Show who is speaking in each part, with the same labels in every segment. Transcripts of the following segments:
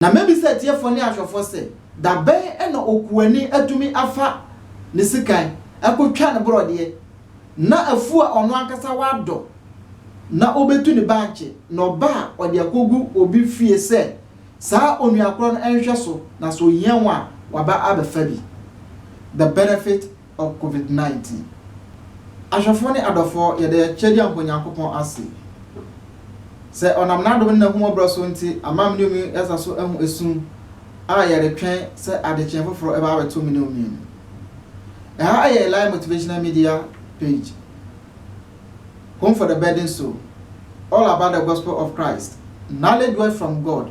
Speaker 1: Na mɛbisa atiefoɔ ne ahwɛfoɔ sɛ, Da bɛn na okuani atumi afa ne sekan akɔtwa ne borɔdeɛ, na afuo a ɔno ankasa wadɔ na ɔbɛtu ne bankye, na ɔba a ɔde akɔgu obi fie sɛ saa onuakorɔ no nhwɛ so, na sɛ ɔhia ho a, waba abɛfa bi? The benefit ɔ covid 19. Ahwɛfoɔ ne adɔfoɔ, yɛda yɛn Kyɛdeɛ Anko Nyankopɔn ase sɛ ɔnam n'adom ne n'ahummɔborɔ so nti ama me ne omi yɛasa so ahu esum a yɛretwɛn sɛ adekyee foforɔ ɛbɛba abɛto me ne omi no. Ɛha ɛyɛ Eli Motivational Media page, home for the burden soul, all about the gospel of Christ, knowledge word from God.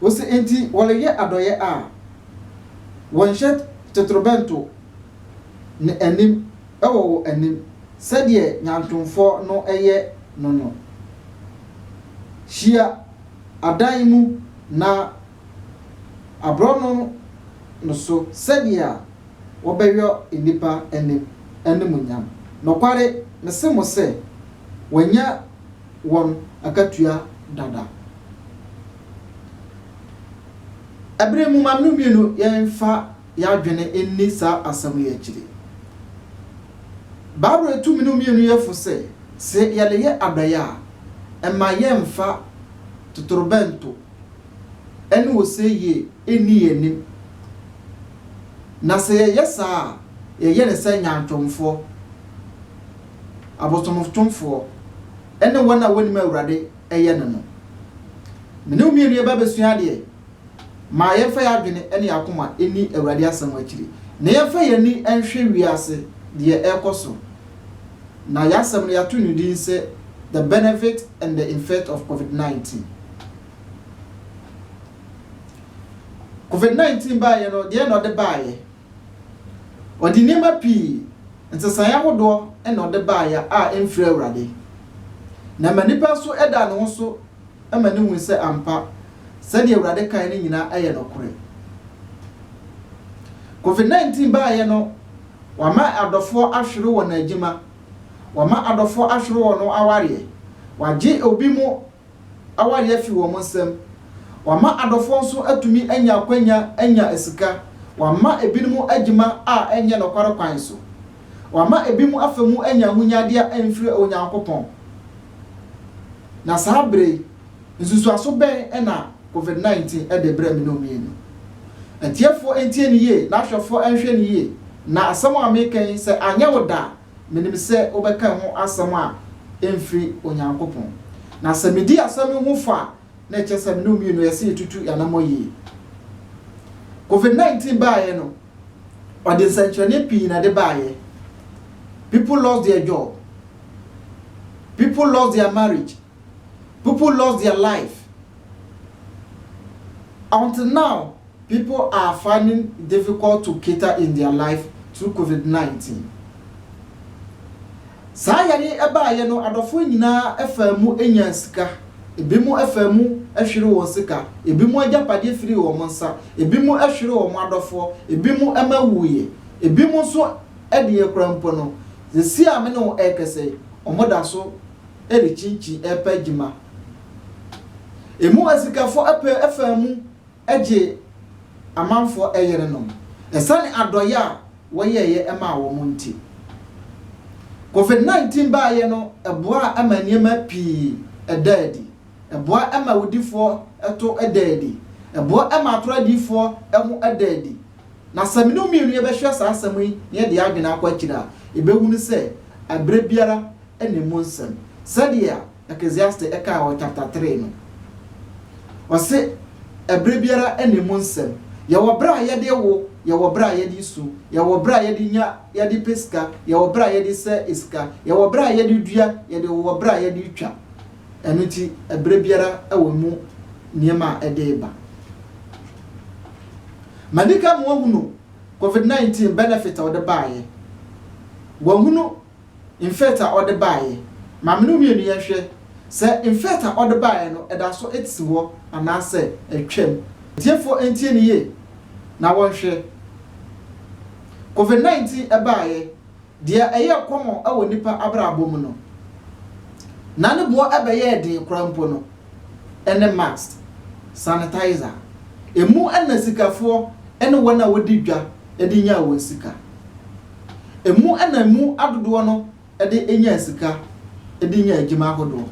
Speaker 1: Ose enti wɔreyɛ adɔeɛ a, wɔnhyɛ totorobɛnto no anim wɔ wo anim sɛdeɛ nyantomfoɔ no yɛ no no. Hyia adan mu na aborɔno no so sɛdeɛ wɔbɛyɔ nnipa anim animuonyam. Nokware, mese mo sɛ, wɔanya wɔn akatua dada. Bere mu, ma no mmienu yɛmfa yɛn adwene nni saa asɛm yi akyiri. Bible tu mmienu mmienu yɛ fo sɛ, sɛ yɛreyɛ adɔe a, mma yɛmfa totorobɛnto ne ose yie nni yɛn anim, na sɛ yɛyɛ saa a, yɛyɛ no sɛ nyaatwomfoɔ, abosomtomfoɔ, ne wɔn a wɔnnim Awurade. yɛ no no. Me ne wo mmienu yɛba abɛsua adeɛ. Ma yɛmfa yɛn adwene ne yɛn akoma nni Awurade asɛm akyiri, na yɛmfa yɛn ani nhwɛ wiase deɛ ɛrekɔ so. Na yɛn asɛm no yɛato no din sɛ The Benefit and the Infect of Covid 19. Covid 19 baeɛ no, deɛn na ɔde baeɛ? Ɔde nneɛma pii, nsesaeɛ ahodoɔ na ɔde baeɛ a ɛmfiri Awurade. Na ɛma nipa nso da ne ho so ma no hu sɛ ampa, sɛdeɛ Awurade kaeɛ no nyinaa yɛ nokorɛ. Covid 19 baeɛ no, wama adɔfoɔ ahwere wɔn adwuma, wama adɔfoɔ ahwere wɔn awareɛ, wagye obi mu awareɛ afiri wɔn nsam, wama adɔfoɔ nso atumi anya akwanya anya sika, wama ebinom adwuma a ɛnyɛ nokware kwan so, wama ebinom afa mu anya ahonyadeɛ a ɛmfiri Onyankopɔn. Na saa berɛ yi, nsusuaso bɛn na Covid 19 de brɛ me ne mmienu? Atiefoɔ ntie no yie na ahwɛfoɔ nhwɛ no yie, na asɛm a mereka yi, sɛ anyɛ wo dɛ a, Menim sɛ wobɛka ɛho asɛm a ɛmfiri Onyankopɔn. Na sɛ medi asɛm yi ho fɔ a, na ɛkyerɛ sɛ me ne wo mmienu yɛ sɛ yɛtutu yɛn anammɔn yie. COVID-19 baeɛ no, ɔde nsɛnkyerɛnne pii na ɛde baeɛ. People lost their job. People lost their marriage. People lost their life until now people are finding difficult to cater in their life through covid nineteen. Saa yare yi ɛbaayɛ no adɔfoɔ nyinaa faa mu nyaa sika, ebinom faa mu hwere wɔn sika, ebinom agyapadeɛ firii wɔn nsa, ebinom hwere wɔn adɔfoɔ, ebinom ma wuiɛ, ebinom nso deɛ kora mpo no, sɛsi a me ne wo ɛrekasa yi, wɔn da so rekyinkyin repɛ adwuma. Emu asikafo pɛ faa mu gyee amanfo yerenom esiane adɔe a wɔyɛeɛ maa wɔn nti. COVID-19 baeɛ no boaa ma nneɛma pii daa adi. Ɛboa ma awudifoɔ to daa adi. Ɛboa ma atorɔ adiyifoɔ ho da adi. Na sɛ me ne wo mmienu yɛbɛhwɛ saa asɛm yi na yɛde yɛn adwene akɔ akyiri a, yɛbɛhunu sɛ berɛ biara na emu nsɛm, sɛdeɛ Ecclesiastes ɛkaa wɔ chapter three no. Ɔse, Ɛberɛ biara na emu nsɛm. Yɛwɔ berɛ a yɛde wo, yɛwɔ berɛ a yɛde su, yɛwɔ berɛ a yɛde nya, yɛde pɛ sika, yɛwɔ berɛ a yɛde sɛ sika, yɛwɔ berɛ a yɛde dua, yɛde wowɔ berɛ a yɛde twa. Ɛno nti, ɛberɛ biara wɔ emu nneɛma a ɛde ba. Manika moahunu Covid-19 benefit a ɔde baeɛ? Wahunu Mfɛt a ɔde baeɛ. Ma me ne wo mmienu yɛnhwɛ sɛ mfɛt a ɔde baeɛ no da so te hɔ anaasɛ atwam. Atiefoɔ ntie no yie na wɔnhwɛ. Covid 19 baeɛ, deɛ ɛyɛɛ kɔmɔn wɔ nnipa abrabɔ mu no, na ne boɔ bɛyɛɛ den koraa mpo no, ɛne mask, sanitizer. Emu na sikafoɔ ne wɔn a wɔdi dwa de nyaa wɔn sika. Emu na emu adodoɔ no de nyaa sika de nyaa adwuma ahodoɔ.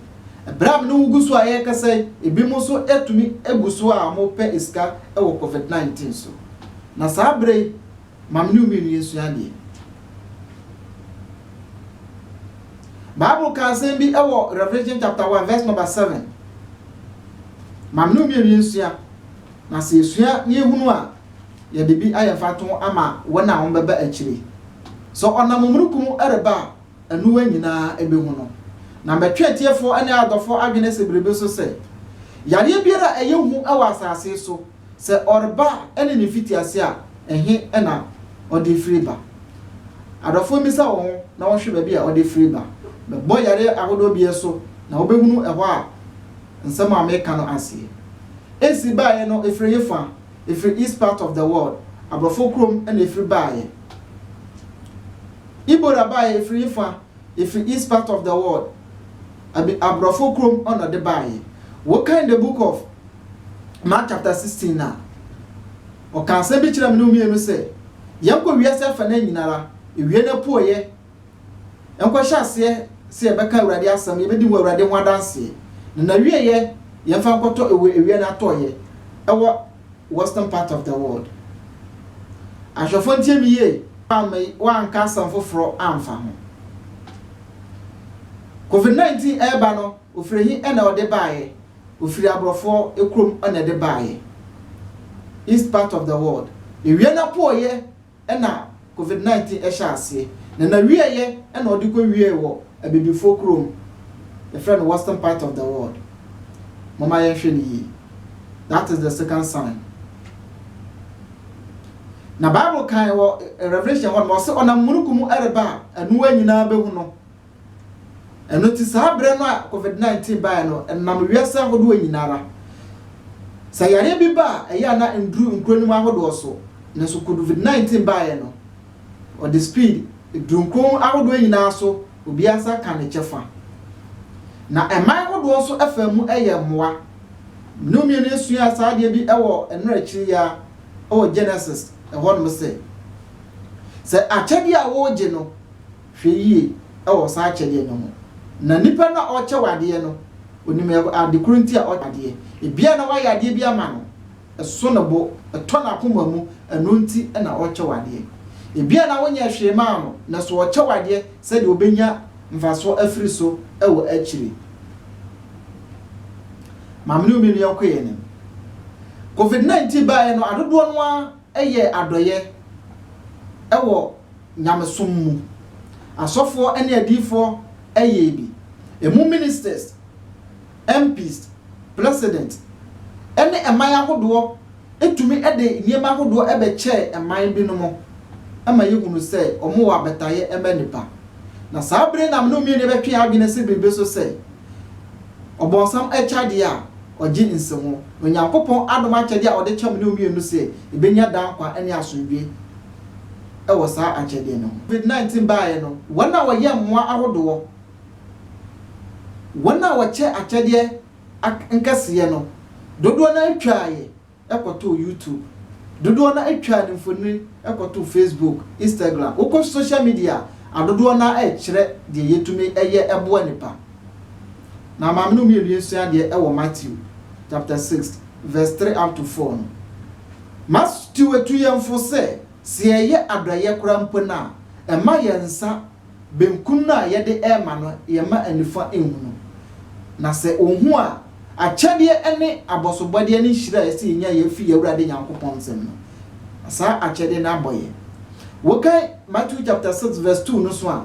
Speaker 1: Berɛ a me ne wo gu so a yɛrekasa yi, ebinom nso atumi agu so a wɔrepɛ sika wɔ Covid 19 so. Na saa berɛ yi, ma me ne wo mmienu yɛnsua adeɛ. Bible ka asɛm bi wɔ Revelation chapter 1 verse number 7. Ma me ne wo mmienu yɛnsua. Na sɛ yɛsua na yɛhunu a, Yɛde bi ayɛ mfatoho ama wɔn a wɔbɛba akyiri. Sɛ ɔnam omununkum reba a, aniwa nyinaa behu no. Na mɛtwe atiefoɔ ne adɔfoɔ adwene asi biribi so sɛ, Yareɛ biara a ɛyɛ hu wɔ asase so, sɛ ɔreba a ne ne mfitiaseɛ a, ɛhe na ɔde firi ba? Adɔfoɔ mmisa wɔn ho na wɔnhwɛ baabi a ɔde firi ba. Mɛbɔ yareɛ ahodoɔ biara so, na wɔbɛhunu ɛhɔ a nsɛm a meka no aseɛ si baeɛ no firi hefa, ɛfiri east part of the world, aborɔfo kurom na ɛfiri baeɛ. Ibora baeɛ ɛfiri he fa? Ɛfiri east part of the world, abi aborɔfo kurom na ɔde baeɛ. Wokan the book of Mark chapter 16 no a, ɔka asɛm bi kyerɛ me ne wo mmienu sɛ, yɛnkɔ wiase afa no nyinara, ɛwie no apueɛ, Yɛnkɔhyɛ aseɛ sɛ yɛbɛka Awurade asɛm, yɛbɛdi wɔ Awurade ho adanseɛ, na n'awieeɛ yɛmfa nkɔtɔ ɛwɔ awia no atɔeɛ ɛwɔ western part of the world. Ahwɛfoɔ ntie me yie, me woanka asɛm foforɔ amfa ho. Covid 19 ɛreba no, ofiri he na ɔde baeɛ? Ofiri aborɔfoɔ kurom na ɛde baeɛ, east part of the world. Awia no apɔeɛ na Covid 19 hyɛɛ aseɛ, na n'awieɛ na ɔde kɔ wieɛ wɔ abibifoɔ kurom, yɛfrɛ no western part of the world, momma yɛnhwɛ no yie, that is the second sign. Na Bible kan wɔ Revelation hɔ nom, ɔse ɔnam mununkum mu ɛreba a, anoa nyinaa bɛhu no. Ɛno nti saa berɛ no a covid 19 baeɛ no, ɛnam wiase ahodoɔ nyina ara. Sɛ yareɛ bi ba a, ɛyɛ a na ɛnduru nkuro no mu ahodoɔ so. Nanso covid 19 baeɛ no, ɔde speed duru nkuro ahodoɔ nyina ara so, obiara nsa ka ne kyɛfa. Na ɛman hodoɔ nso faa mu yɛɛ mmoa. Me ne wo mmienu yɛsuaa saa adeɛ bi wɔ ɛnora akyiri yi ara wɔ Genesis hɔnom sɛ, sɛ akyɛdeɛ a wogye no, Hwɛ yie wɔ saa akyɛdeɛ no ho. Na nipa no a ɔrekyɛ wo adeɛ no, ɔnim ade korɔ nti a ɔkyɛ wo adeɛ. Ebia na woayɛ adeɛ bi ama no, ɛso ne bo, ɛtɔ n'akoma mu, ɛno nti na ɔrekyɛ wo adeɛ. Ebia na wonyɛɛ hwee mmaa no, nanso ɔrekyɛ wo adeɛ sɛdeɛ ɔbɛnya mfasoɔ afiri so wɔ akyire. Maame ne wo mmienu yɛnkɔ yɛn anim. Covid 19 baeɛ no, adodoɔ no ara yɛɛ adɔeɛ wɔ nyamesom mu. Asɔfoɔ ne adiyifoɔ yɛɛ bi. Ɛmu ministers, MPs, president ne ɛman ahodoɔ tumi de nneɛma ahodoɔ bɛkyɛɛ ɛman binom ma yɛhunu sɛ wɔwɔ abataeɛ ma nnipa. Na saa bere nam no mmieni bɛtwe yɛn adwene se biribi so sɛ, ɔbɔnsam kyɛ adeɛ a, ɔgye nsi ho, na Onyankopɔn adom akyɛde a ɔde kyɛ mo ne wo mmienu sɛ yɛbɛnya daa nkwa ne asomdwoeɛ wɔ saa akyɛdeɛ no ho. Covid 19 baeɛ no, wɔn a wɔyɛ mmoa ahodoɔ, wɔn a wɔkyɛ akyɛdeɛ nkɛseɛ no, dodoɔ no ara twaaeɛ. kɔtoo YouTube, dodoɔ no ara twaa ne mfonini kɔtoo Facebook, Instagram, wokɔ social media a, dodoɔ no ara kyerɛ deɛ yɛtumi yɛ boa nnipa. Na ma me ne wo mmienu yɛnsua adeɛ wɔ Matthew chapter six verse three up to four no. Matthew tu yɛn fo sɛ, sɛ yɛyɛ adɔeɛ koraa mpo no a, mma yɛn nsa benkum no a yɛde rema no, yɛmma anifua nhu no. Na sɛ ohu a, akyɛdeɛ ne abɔsobɔdeɛ ne nhyira a ɛsɛ sɛ yɛnya yi firi yɛn Awurade Nyankopɔn nsam no, saa akyɛdeɛ no abɔ yɛn. Wokan Matthew chapter six verse two no so a,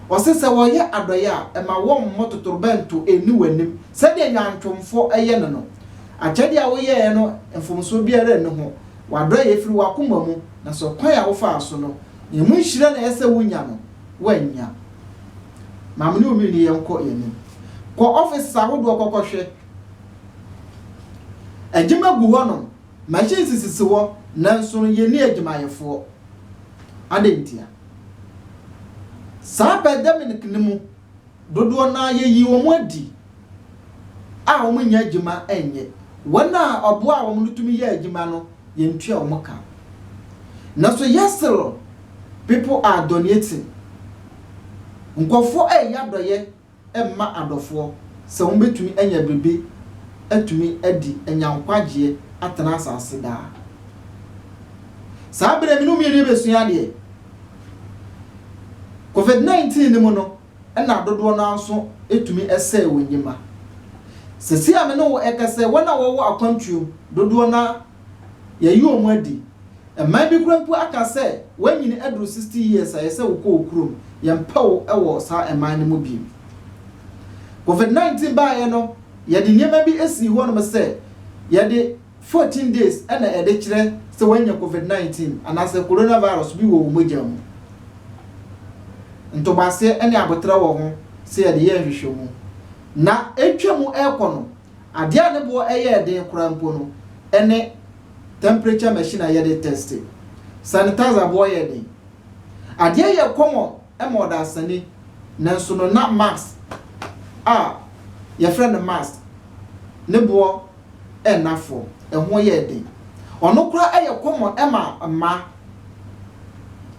Speaker 1: ɔse sɛ wɔyɛ adɔeɛ a, ɛma wɔmmɔ totorobɛnto nni w'anim sɛdeɛ nnwantwomfoɔ yɛ no no. Akyɛdeɛ a woyɛeɛ no, mfomsoɔ biara nni ho. W'adɔeɛ firi w'akoma mu, na sɛ ɔkwan a wofaa so no, Ɛho nhyira na ɛsɛ sɛ wunya no, woannya. Ma me ne wo mmienu yɛnkɔ yɛn anim. Kɔ offices ahodoɔ kɔkɔhwɛ. Adwuma gu hɔnom, machines sisi hɔ, nanso no yɛnni adwumayɛfoɔ. Adɛn ntia? Saa pandemic no mu, dodoɔ no ara yɛyii wɔn adi a wɔnnya adwuma nyɛ. Wɔn a ɔboaa wɔn no tumi yɛɛ adwuma no, yɛntua wɔn ka. Nanso Yesreel bepɔ a dɔneɛ te, nkurɔfoɔ reyɛ adɔeɛ mma adɔfoɔ sɛ wɔbɛtumi anya biribi atumi adi, anya nkwagyeɛ, atena asase daa. Saa berɛ me ne wo mmienu yɛbɛsua adeɛ. Covid 19 no mu no, ɛnna dodoɔ no ara nso tumi sɛe wɔn nnwuma. Seesei a me ne wo rekasa yi, wɔn a wɔwɔ akwantuo dodoɔ no ara yɛayi wɔn adi. Mmaa bi koraa mpo aka sɛ, Woanyini aduru sixty years a, ɛyɛ sɛ wokɔ wo kurom. Yɛmpɛ wo wɔ saa mman no mu bio. Covid nineteen baeɛ no, yɛde nneɛma bi sii hɔnom sɛ yɛde Fourteen days na ɛde kyerɛ sɛ woanya covid nineteen anaasɛ coronavirus bi wɔ wo mogya mu. Ntoboaseɛ ne aboterɛ wɔ ho sɛ yɛde yɛ nhwehwɛmu. Na ɛretwa mu rekɔ no, adeɛ a ne boɔ yɛɛ den koraa mpo no ne temperature machine a yɛde tɛste. Sanitizer boɔ yɛ den. Adeɛ yɛɛ common ma ɔdasani, nanso no na mask a yɛfrɛ no mask ne boɔ nna fɔ, ɛho yɛɛ den. Ɔno koraa ɛyɛ kɔmɔ ɛma mmaa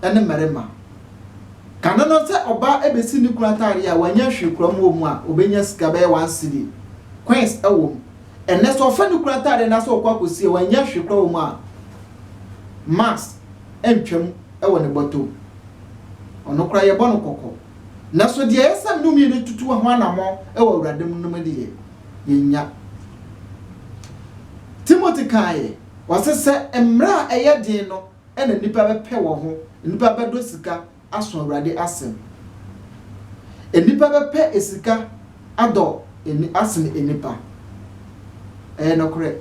Speaker 1: ɛne mmarima. Kane no sɛ ɔbaa ɛbɛsi ne kunu ataadeɛ a wanyɛ hwee koraa mu wɔ mu a ɔbɛnya sika bɛyɛ one cedi, coins ɛwɔ mu. Ɛnnɛ sɛ ɔfa ne kunu ataadeɛ na sɛ ɔkɔ akɔsi a wanyɛ hwee koraa wɔ mu a mask ɛntwa mu ɛwɔ ne bɔtɔ mu. Ɔno koraa yɛbɔ no kɔkɔ. Na so deɛ ɛyɛ sɛ nnome no tutu ho anammɔn wɔ Awurade mu no mu deɛ, yɛnnya. Timothy kaeɛ, ɔse, sɛ mmerɛ a ɛyɛ den no na nnipa bɛpɛ wɔ ho, nnipa bɛdɔ sika aso Awurade asɛm. Nnipa bɛpɛ sika adɔ asene nnipa. Ɛyɛ nokorɛ.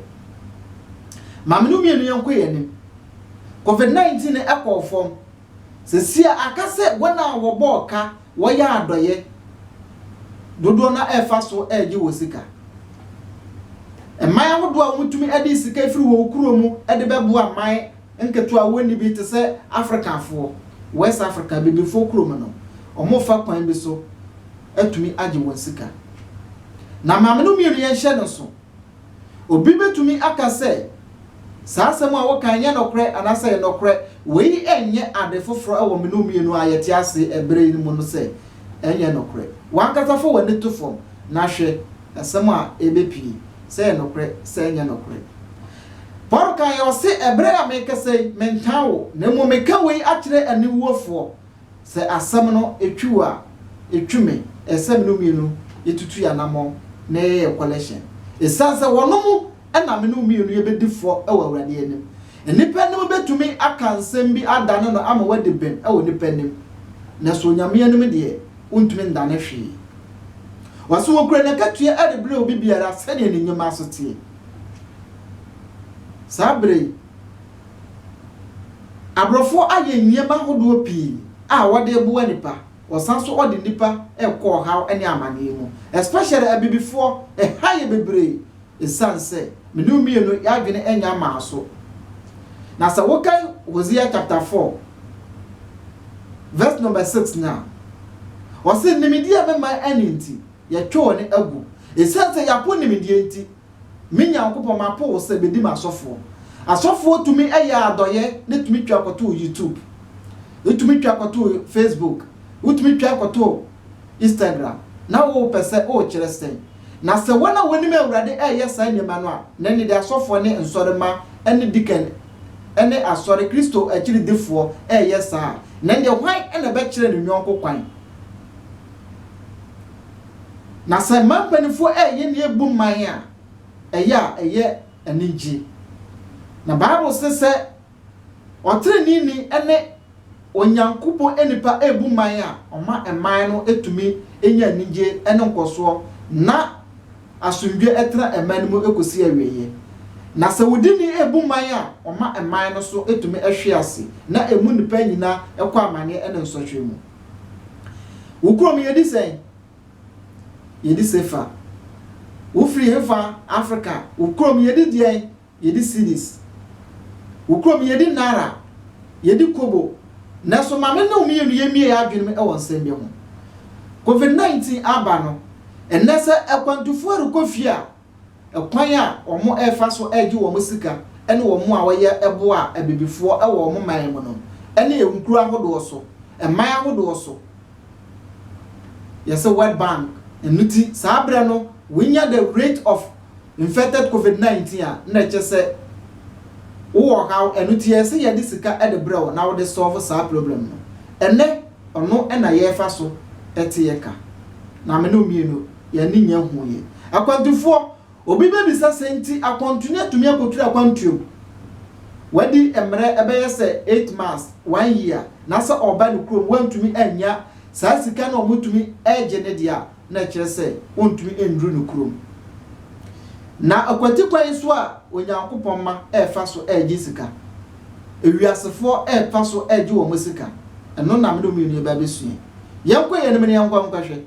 Speaker 1: Maame no mmienu yɛnkɔ yɛn anim. Covid 19 no kɔɔ fam. Sesia aka sɛ wɔn a wɔbɔɔ ka, wɔyɛ adɔyɛ, dodoɔ no ara ɛfa so ɛregye wɔ sika. Mman ahodoɔ a wɔtumi ɛde sika firi wɔn kuro mu ɛde bɛboa mman nketewa a wɔnni bi te sɛ Afrikafoɔ, West Africa, Abibifoɔ kuro mu no, wɔfa kwan bi so ɛtumi agye wɔn sika. Na maame no mmienu yɛnhyɛ no nso. Obi betumi aka sɛ, 'Saa asɛm a woka yi nyɛ nokorɛ anaasɛ ɛyɛ nokorɛ. Wei nyɛ ade foforo wɔ me ne wo mmienu a yɛte ase bere yi mu no sɛ ɛnyɛ nokorɛ. W'ankasa fa w'ani to fam na hwɛ asɛm a ebepue, sɛ ɛyɛ nokorɛ, sɛ ɛnyɛ nokorɛ. Paulo kae ɔse, Bere a merekasa yi, mentaa wo, na mmom meka wei akyerɛ aniwuofoɔ. Sɛ asɛm no twe wo a, etwe me. Ɛsɛ sɛ me ne wo mmienu yɛtutu yɛn anammɔn na yɛyɛ yɛn kɔlɛhyen. Esiane sɛ wɔnom na me ne wo mmienu yɛbɛdi fɔ wɔ Awurade anim. Nnipa anim bɛtumi aka nsɛm bi adane no ama woadi bem wɔ nnipa anim, nanso Onyame anim deɛ, wontumi ndane hwee. Wɔse wɔkura n'akatua rebrɛ obi biara sɛdeɛ ne nnwuma so teɛ. Saa berɛ yi. Aborɔfoɔ ayɛ nneɛma hodoɔ pii a wɔde reboa nnipa, wɔsan nso wɔde nnipa rekɔ ɔhaw ne amaneɛ mu, especially abibifoɔ, ɛha yɛ bebree ɛsiane sɛ me ne wo mmienu yɛn adwene nnya mmaa so. Na sɛ wokan Hosea chapter 4 verse number 6 no a, ɔse nimdeɛ a mɛma ɛne nti, yɛtwe wɔn agu, ɛsiane sɛ yɛapo nimdeɛ nti, Me Nyankopɔn, mapo wo sɛ bedi m'asɔfoɔ. Asɔfoɔ tumi yɛ adɔyɛ na tumi twa kɔtoo YouTube. Wotumi twa kɔtoo Facebook. Wotumi twa kɔtoo Instagram. Na wopɛ sɛ wokyerɛ sɛn? Na sɛ wɔn a wɔnim Awurade reyɛ saa nneɛma no a, na ɛnneɛ deɛ asɔfoɔ ne nsɔremma ne deacon ne asɔre, Kristo akyiridifoɔ, reyɛ saa a, na ɛnneɛ hwan na ɛbɛkyerɛ ne yɔnko kwan? Na sɛ mmaa mpanimfoɔ reyɛ nea ɛbu mman a, ɛyɛ a ɛyɛ anigye. Na Bible se sɛ ɔteneneeni ne Onyankopɔn nipa rebu mman a, ɔma mman no tumi nya anigye ne nkɔsoɔ na asomdwoeɛ tena mman no mu kɔsi awieeɛ. Na sɛ wudini rebu mman a, ɔma mman no so tumi hwe ase na ɛmu nnipa nyinaa kɔ amaneɛ ne nsɔhwɛ mu. Wo kurom yɛdi sɛn? Yɛdi sefa. Wo firi hefa? Africa. Wo kurom yɛdi deɛn? Yɛdi cedis. Wo kurom yɛdi naira. Yɛdi kobo. Nanso maame ne wo mmienu yɛmmie yɛn adwenem wɔ nsɛm bi ho. Covid 19 aba no, ɛnnɛ sɛ akwantufoɔ rekɔ fie a, Kwan a wɔrefa so regye wɔn sika ne wɔn a wɔyɛ boa abibifoɔ wɔ wɔn man mu no ne nkuro ahodoɔ so, man ahodoɔ so, yɛse World Bank, ɛno ti saa berɛ no wonya the rate of infected covid 19 a na ɛkyɛ sɛ wowɔ haw, ɛno ti yɛse yɛde sika de brɛ wo na wode solve saa problem no, ɛnɛ ɔno na yɛrefa so te yɛ ka, na me ne wo mmienu yɛn ani nyɛ ho yɛ. Akwantufoɔ, Obi bɛbisa sɛ nti akwantuni atumi akɔturu akwantuom? Wadi mmerɛ ɛbɛyɛ sɛ eight months, one year, na sɛ ɔreba ne kurom wantumi annya saa sika no a wɔtumi regye ne deɛ a, na ɛkyerɛ sɛ ɔntumi nnuru ne kurom. Na akwati kwan so a Onyankopɔn mma refa so regye sika, ewiasefoɔ refa so regye wɔn sika, ɛno na me ne wo mmienu yɛbɛbɛsua yi. Yɛnkɔ yɛn anim na yɛnkɔ nkɔhwɛ.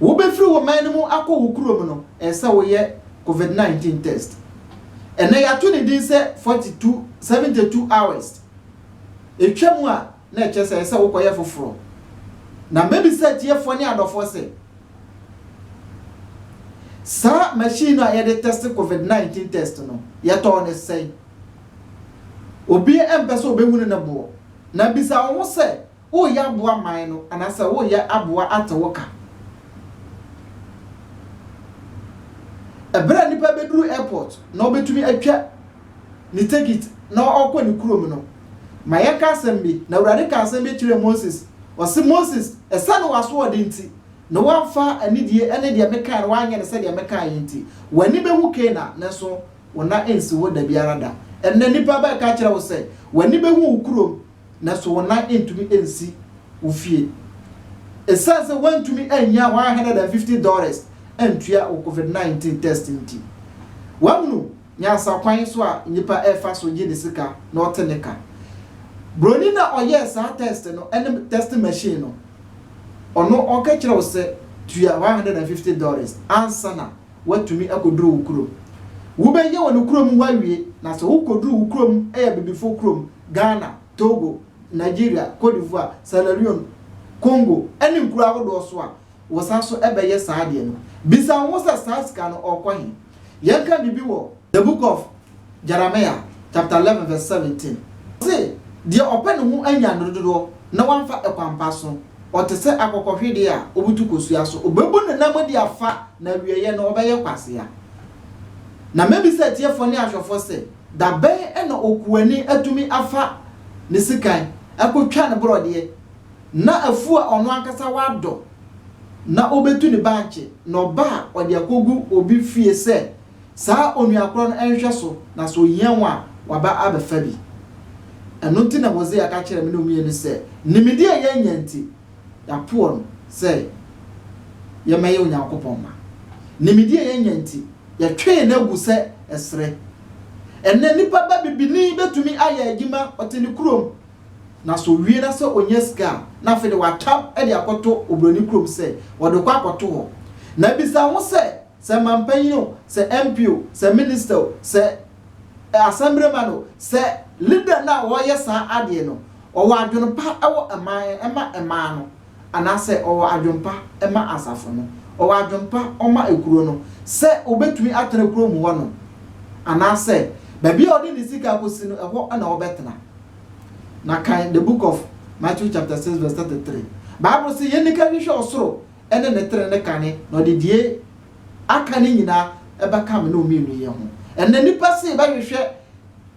Speaker 1: Wobɛfiri wo man no mu akɔ wo kurom no, ɛsɛ sɛ woyɛ Covid 19 test. Ɛnnɛ yɛato ne din sɛ 42, 72 hours. Ɛtwa mu a, na ɛkyerɛ sɛ ɛsɛ sɛ wokɔyɛ foforɔ. Na mɛbisa atiefoɔ ne adɔfoɔ sɛ, saa machine no a yɛde tɛste Covid 19 test no, yɛtɔɔ no sɛn? Obiara mpɛ sɛ ɔbɛhunu ne boɔ. Na bisa wo ho sɛ, Woreyɛ aboa man no anaasɛ woreyɛ aboa ate wo ka? Ɛberɛ a nipa bɛduru airport na ɔbɛtumi atwa ne tekit na ɔkɔ ne kurom no, ma yɛnka asɛm bi, Na Awurade kaa asɛm bi kyerɛɛ Moses, ɔse, Moses, ɛsiane w'asoɔden nti, ne woamfa anidie ne deɛ mekae no woanyɛ no sɛdeɛ mekae yi nti, w'ani bɛwu Kana, nanso wo nan ansi hɔ dabiara da. Ɛnnɛ nipa bɛka akyerɛ wo sɛ, w'ani bɛwu wo kurom, nanso wo nan ntumi nsi wo fie esiane sɛ woantumi annya one hundred and fifty dollars antua wo covid nineteen test nti. Woahunu nyansa kwan so a nnipa refa so gye ne sika na ɔte ne ka? Buroni no a ɔyɛɛ saa test no ne test machine no, ɔno ɔka kyerɛ wo sɛ tua one hundred and fifty dollars ansa na woatumi akɔduru wo kurom. Wobɛyɛ wɔ no kurom hɔ awie, na sɛ wokɔduru wo kurom ɛyɛ abibifoɔ kurom, Ghana, Togo, Nigeria, Cote d'Ivoire, Sierra Leone, Congo ɛne nkuro ahodoɔ so a, wosan so bɛyɛ saa adeɛ no. Bisa wo ho sɛ saa sika no ɔɔkɔ he? Yɛnka biribi wɔ The Book of Jeremiah chapter eleven verse seventeen, Ɔse, Deɛ ɔpɛ ne ho anya nnuro dodoɔ na wamfa ɛkwampa so, ɔte sɛ akokɔhwedeɛ a ɔbutu kosua so, ɔbɛbu ne nam de afa, na awieɛ no ɔbɛyɛ kwasea. Na mɛbisa atiefoɔ ne ahwɛfoɔ sɛ, dabɛn na okuani atumi afa ne sikan akɔtwa ne borɔdeɛ, na afuo a ɔno ankasa wadɔ na ɔbɛtu ne bankye, na ɔba a ɔde akɔgu obi fie sɛ, Saa onua korɔ no nhwɛ so, na sɛ ɔhia wɔn a, waba abɛfa bi. Ɛno nti na Hosea ka kyerɛɛ me ne Omie no sɛ, Nimdeɛ a yɛanya nti, yɛapoɔ no sɛ yɛmmɛyɛ Onyankopɔn mma. Nimdeɛ a yɛanya nti, yɛtwee no agu sɛ ɛserɛ. Ɛnnɛ, nipa ba bibini bɛtumi ayɛ adwuma, ɔte ne kurom, na sɛ ɔwie na sɛ ɔnya sika a, na afei deɛ watwa de akɔto oburoni kurom sɛ ɔde rekɔ akɔto hɔ. Na bisa wo ho sɛ, Sɛ manpanyin o, sɛ MP o, sɛ minister o, sɛ Assemblyman o, sɛ leader no a ɔreyɛ saa adeɛ no, ɔwɔ adwene pa wɔ man ma man no, anaasɛ ɔwɔ adwene pa ma asafo no, ɔwɔ adwene pa ɔma ekuro no, sɛ ɔbɛtumi atena kurom hɔ nom, anaasɛ baabi a ɔde ne sika akɔsi no, ɛhɔ na ɔbɛtena. Na kan the book of Matthew chapter six verse thirty three. Bible se yɛnni ka nhwehwɛ ɔsoro ne ne tiri ne kane, na ɔde deɛ aka no nyinaa bɛka me ne wo mmienu yɛ ho. Ɛnnɛ nnipa se bɛhwehwɛ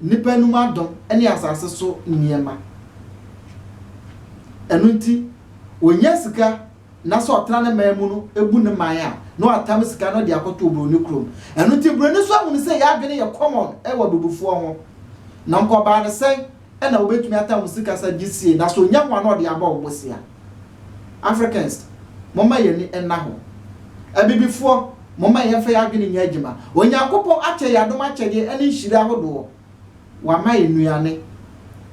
Speaker 1: nnipa anom adom ne asase so nneɛma. Ɛno nti, ɔnya sika na sɛ ɔtra ne man mu no, ɛbu ne man a, na watam sika no de akɔto oburoni kurom. Ɛno nti, buroni nso ahunu sɛ yɛn adwene yɛ common wɔ abibifoɔ ho. Na nkɔbaa no sɛn? na wobetumi atan wo sikasɛm gye sie na so nya hua na ɔde abɔ wo bosea? Africans, momma yɛn ani nna hɔ. Abibifoɔ, momma yɛmfa yɛn adwene nyɛ adwuma. Onyankopɔn akyɛ yɛn adom akyɛdeɛ ne nhyira ahodoɔ. Wama yɛn nnuane.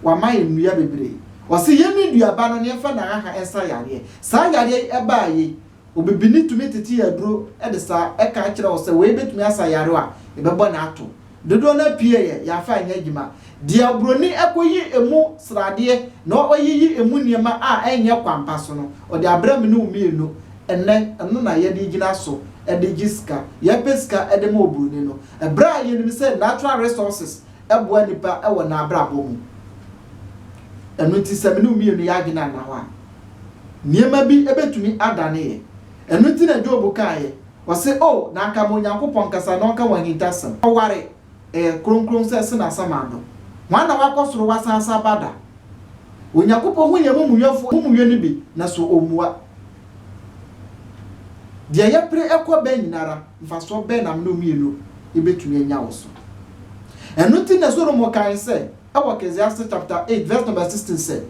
Speaker 1: Wama yɛn nnua bebree. Ɔse yɛnni duaba no na yɛmfa nnahaha nsa yareɛ. Saa yareɛ yi baa yei, Obibini tumi tete aduro de sa ka kyerɛ wo sɛ wei bɛtumi asa yare a ɛbɛbɔ no ato. Dodoɔ no ara pie yɛ yaafa a ɛnyɛ adwuma. Deɛ oburoni kɔyi ɛmu sradeɛ na ɔyiyi ɛmu nneɛma a ɛnyɛ kwampa so no, ɔde abrɛ me ne wo mmienu ɛnnɛ. Ɛno na yɛde gyina so de gye sika. Yɛpɛ sika de ma oburoni no berɛ a yɛnim sɛ natural resources boa nnipa wɔ n'abrabɔ mu. Ɛno nti sɛ me ne wo mmienu yɛn adwene anna hɔ a, Nneɛma bi betumi adane yɛn. Ɛno nti na Job kaeɛ, ɔse, O, na anka ma Onyankopɔn kasa na ɔnka wɔn ahintasɛm. Ɔware, Ɛyɛ kronkron sɛ sene asamando. Hwan na wakɔ soro wasan asa aba da? Onyankopɔn hu yɛn amumuyɔfoɔ amumuyɔ no bi, na so ɔmmua? Deɛ yɛpere kɔ bɛn nyina ara, mfasoɔ bɛn na mene wo mmienu bɛtumi anya wɔ so? Ɛno nti na Solomo kae sɛ, wɔ Ecclesiastes chapter eight verse number sixteen sɛ,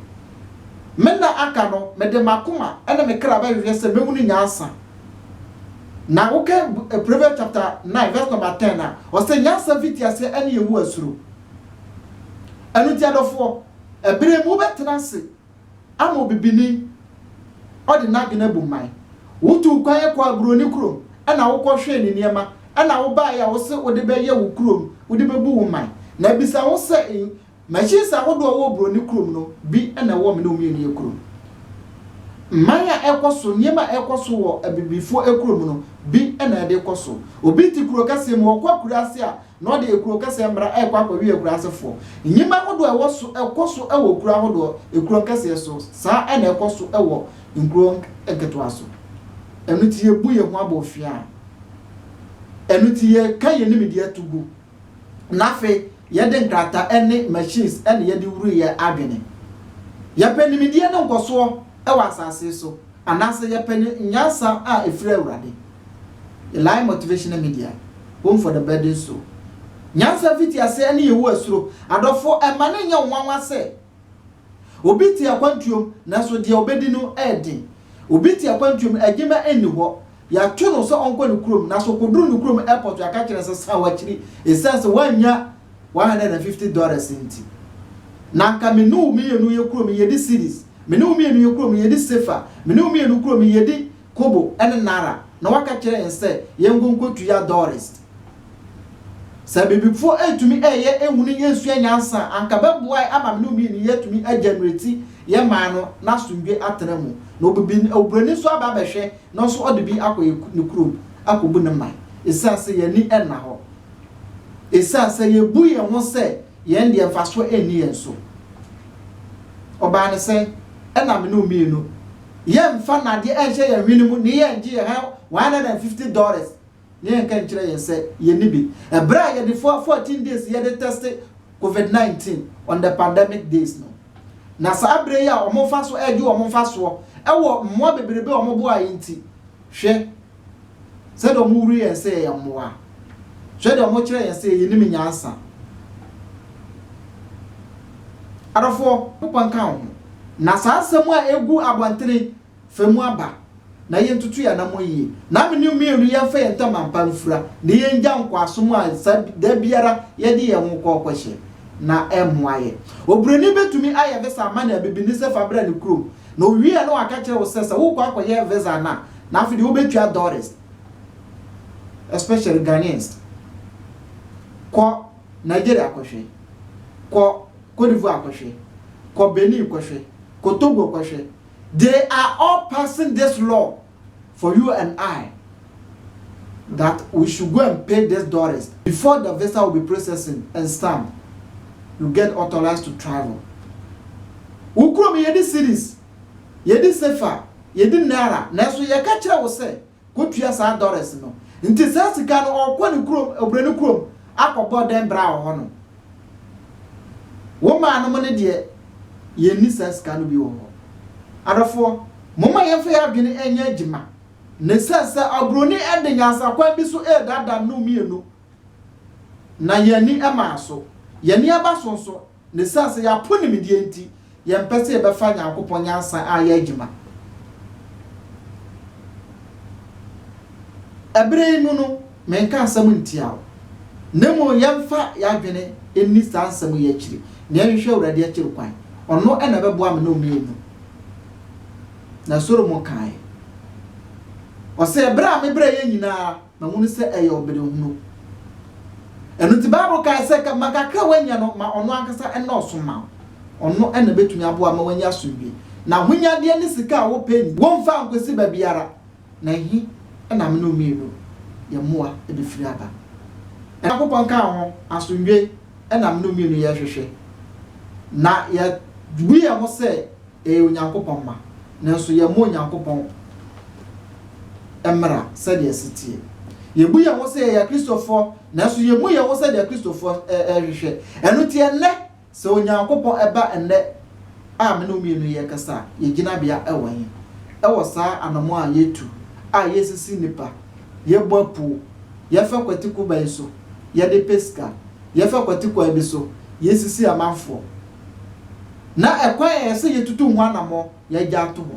Speaker 1: Me nna aka no, mede m'akoma ne me kra bɛhwehwɛ sɛ mɛhunu nyansa. Na wokan Proverbs chapter nine verse number ten a, ɔsɛ nyansa fiti aseɛ ne Yehowa suro. Ɛno nti adɔfoɔ, ɛberɛ mu wobɛtena ase. Ama obibini ɔde n'adwene abu mman. Wotuu kwan kɔɔ aburoni kurom na wokɔhwɛɛ ne nneɛma na wobaeɛ a wose wode bɛyɛ wo kurom, wode bɛbu wo man. Na bisa wo sɛ, Machines ahodoɔ a ɛwɔ oburoni kurom no, bi na ɛwɔ me ne wo mmienu yɛ kurom? Mman a ɛrekɔ so, nneɛma a ɛrekɔ so wɔ abibifoɔ kurom no, bi na ɛde rekɔ so? Obi te kuro kɛseɛ mu, ɔkɔ akuraase a, na ɔde ekuro kɛseɛ mmra rekɔ akɔwe akura ase foɔ nneɛma ahodoɔ a ɛwɔ so ɛkɔ so wɔ kuro ahodoɔ ekuro nkɛseɛ so saa na ɛkɔ so wɔ nkuro nketewa so ɛno ti yɛ bu yɛ ho abɔfiaa ɛno ti yɛ ka yɛ nimideɛ to gu na afei yɛde nkrata ɛne machines ɛne yɛde wuru yɛ adwene yɛpɛ nimideɛ ne nkɔsoɔ ɛwɔ asase so anaasɛ yɛpɛ ne nyansa a ɛfiri awurade The Life Motivational Media, Home for the Burdened Soul. Nyansa mfitiase ne Yehowa suro. Adɔfo, mma no nyɛ wo nwanwa sɛ, Obi te akwantuom, nanso deɛ ɔbɛdi no yɛ den. Obi te akwantuom, adwuma nni hɔ. Yɛato no sɛ ɔnkɔ ne kurom, nanso ɔkɔduru ne kurom airport, yɛaka kyerɛ no sɛ san w'akyiri esiane sɛ woannya 150 dollars nti. Na anka me ne wo mmienu yɛ kurom, yɛdi series. Me ne wo mmienu yɛ kurom, yɛdi sefa. Me ne wo mmienu kurom, yɛdi kobo ne naara na waka kyerɛ yɛn sɛ yɛnkɔ nkotua dɔrist. Sɛ abibifoɔ retumi reyɛ nhunu yɛ nsua nyansa a, anka bɛboae ama me ne wo mmienu yɛatumi agyanereti yɛ man no na asomdwe atena mu. Na obibi oburoni nso aba abɛhwɛ na ɔnso ɔde bi akɔ yɛ ne kurom akɔbu ne man ɛsiane sɛ yɛn ani nna hɔ ɛsiane sɛ yɛbu yɛn ho sɛ yɛn deɛ mfasoɔ nni yɛn so. Ɔbaa no sɛ ɛna me ne wo mmienu yɛmfa nnade nhyɛ yɛn hwene mu na yɛngye yɛn one hundred and fifty dollars na yɛnka nkyerɛ yɛn sɛ yɛnni bi. Ɛberɛ a yɛde fo fourteen days yɛde tɛste covid nineteen on the pandemic days no, na saa berɛ yi a wɔfa so regye wɔn mfasoɔ wɔ mmoa bebrebe a wɔboaeɛ nti, hwɛ, Sɛdeɛ wɔhuri yɛn sɛ yɛyɛ mmoa. Hwɛ deɛ wɔkyerɛ yɛn sɛ yɛnnim nyansa. Adɔfoɔ, Nyankopɔn nka wo ho. Na saa nsɛm a ɛgu abɔntene, fa mu aba, na yɛntutu yɛn anammɔn yie, na me ne wo mmienu yɛmfa yɛn ntam ampa mfira, na yɛngya nkoasom a saa da biara yɛde yɛn ho kɔ ɔkɔhyɛ, na ɛmmoa yɛn. Oburoni bɛtumi ayɛ visa ama ne abibini sɛ fa bra ne kurom, na ɔwie a na waka akyerɛ wo sɛ sɛ worekɔ akɔyɛ visa no a, Na afei deɛ wobɛtua dollars especially Ghanaians kɔ Nigeria kɔhwɛ kɔ Cote d'Ivoire kɔhwɛ kɔ Benin kɔhwɛ kɔ Togo kɔhwɛ they are all passing this law for you and I that we should go and pay this dollars before the visa will be processing and stamp you get authorized to travel wo kurom yɛde cities Yɛdi sefa, yɛdi naira, nanso yɛka kyerɛ wo sɛ kɔtua saa dɔres no. Nti saa sika no ɔrekɔ ne kurom, obroni kurom akɔbɔ dɛn bra wɔ hɔ nom? Wo maa nom no deɛ yɛnni saa sika no bi wɔ hɔ. Adɔfoɔ, momma yɛmfa yɛn adwene nyɛ adwuma. Na ɛsiane sɛ obroni de nyansakwan bi so redaadaa nom mmienu na yɛn ani maa so, yɛn ani aba so nso, Na esiane sɛ yɛapo nimdeɛ nti, yɛmpɛ sɛ yɛbɛfa Nyankopɔn nyansa ayɛ adwuma. Ɛbere yi mu no, menka asɛm ntia wo, na mmom yɛmfa yɛn adwene nni saa nsɛm yi akyiri, na yɛnhwehwɛ Awurade akyiri kwan. Ɔno na ɛbɛboa me ne wo mmienu. Na Solomon kae, ɔse, Ɛbere a mebrɛ yɛn nyinaa, na hunu sɛ ɛyɛ ɔberehunu. Ɛno nti, Bible kae sɛ, Ka ma kakra a woanya no ma ɔno ankasa nnɔɔso mma wo. Ɔno na ɛbɛtumi aboa ma woanya asomdwoe. Na ahonyadeɛ ne sika a wopɛ nyi wo mfa nkɔsi baabiara, na ɛhe na me ne wo mmienu yɛn mmoa bɛfiri aba? Onyankopɔn ka ho, Asomdwoe na me ne wo mmienu yɛrehwehwɛ, na yɛabu yɛn ho sɛ ɛyɛ Onyankopɔn mma, nanso yɛmmɔ Onyankopɔn mmara sɛdeɛ ɛsi teɛ. Yɛbu yɛn ho sɛ yɛyɛ Akristofoɔ, nanso yɛmmu yɛn ho sɛdeɛ Akristofoɔ ɛhwehwɛ. Ɛno nti ɛnnɛ, sɛ Onyankopɔn ɛba ɛnnɛ a me ne wo mmienu yɛrekasa a, yɛn gyinabea ɛwɔ he? Ɛwɔ saa anammɔn a yɛtu a yɛresisi nnipa, yɛbɔ apuo, yɛfa kwati kuba yi so, yɛde pɛ sika, yɛfa kwati kwan bi so, yɛresisi amanfoɔ, na ɛkwan a ɛsɛ sɛ yetutu ho anammɔn na yɛagye ato hɔ,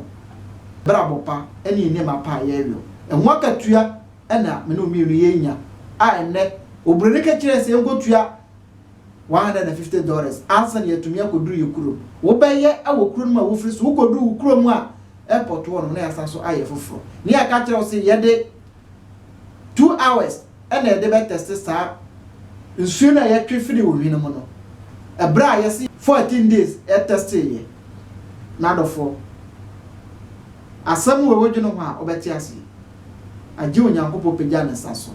Speaker 1: brabɔ pa ne nneɛma pa a yɛwɔ, ɛho akatua na me ne wo mmienu yɛrenya a ɛnnɛ oburoni no ka kyerɛɛ sɛ yɛnkɔtua one hundred and fifty dollars ansa na yɛatumi akɔduru yɛ kurom. Wobɛyɛ wɔ kuro no mu a wofiri so, wokɔduru wo kurom a airport wɔ no na yɛasan so ayɛ foforɔ. Ne yɛaka akyerɛ wo sɛ yɛde two hours na yɛde bɛtɛste saa nsuo no a yɛtwe firi ohwi no mu no ɛberɛ a yɛsi 14 days ɛtɛste yɛ n'adɔfoɔ asɛm wɔ ɛwɔ dwene ho a wobɛte aseɛ agye onyankopɔn pagya ne nsa so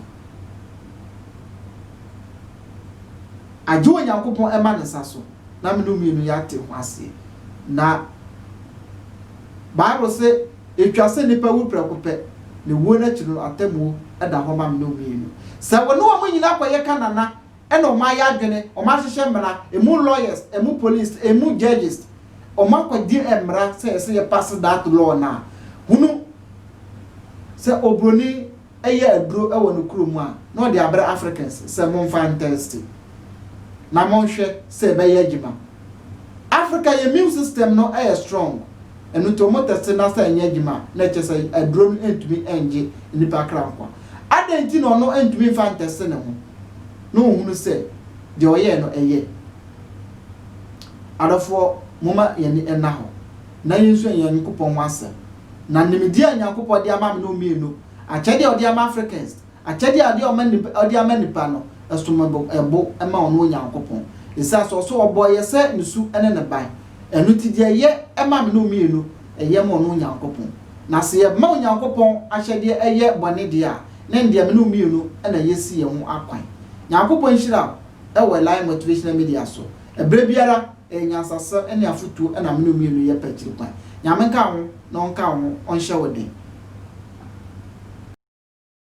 Speaker 1: agye onyankopɔn ɛma ne nsa so na mene mmienu yɛate ho aseɛ na bible se Etwa sɛ nnipa wu prɛko pɛ, na wuo no akyi no atemmuo da hɔ ma mene wo mmienu. Sɛ wo ne wɔn nyina kɔyɛ ka nana ɛna wɔn ayɛ adwene, wɔn ahyehyɛ mmara, emu lawyers, emu police, emu judges, wɔn akɔgye mmara sɛ ɛsɛ yɛ pass that law no a, hunu sɛ obroni yɛ aduro wɔ ne kuro mu a, na ɔde abrɛ Africans sɛ monfa ntɛste na monhwɛ sɛ ɛbɛyɛ adwuma. Africa yɛ immune system no yɛ strong, ɛno nti wɔn tɛste na sɛ ɛnyɛ adwuma a, na ɛkyɛ sɛ aduro no ntumi ngye nnipa kra nkwa. Adɛn nti na ɔno ntumi mfa ntɛste ne ho na ɔhunu sɛ deɛ ɔyɛɛ no ɛyɛ? Adɔfoɔ, momma yɛn ani nna hɔ na yɛnsua yɛn Nyankopɔn ho asɛm. Na nimdeɛ a Nyankopɔn de ama me no mmienu, akyɛdeɛ a ɔde ama Africans, akyɛdeɛ a ɔde ɔma nnipa, ɔde ama nnipa no, ɛsom bo, ɛbo ma ɔno Onyankopɔn. Esiane sɛ ɔso ɔbɔɔ yɛ sɛ ne su ne ne ban, ɛno nti deɛ ɛyɛ ma me no mmienu, ɛyɛ ma ɔno Onyankopɔn. Na sɛ yɛma Onyankopɔn ahyɛdeɛ yɛ bɔne deɛ a, na ɛndeɛ me no mmienu na yɛasi yɛn ho akwan. Nyankopɔn nhyira wo wɔ Elaine Motivational Media so. Ɛberɛ biara, Ɛyɛ nyansasɛm ne afotuo na mene wo mmienu yɛ pɛ akyiri kwan. Nyame nka wo ho na ɔnka wo ho ɔnhyɛ wo den.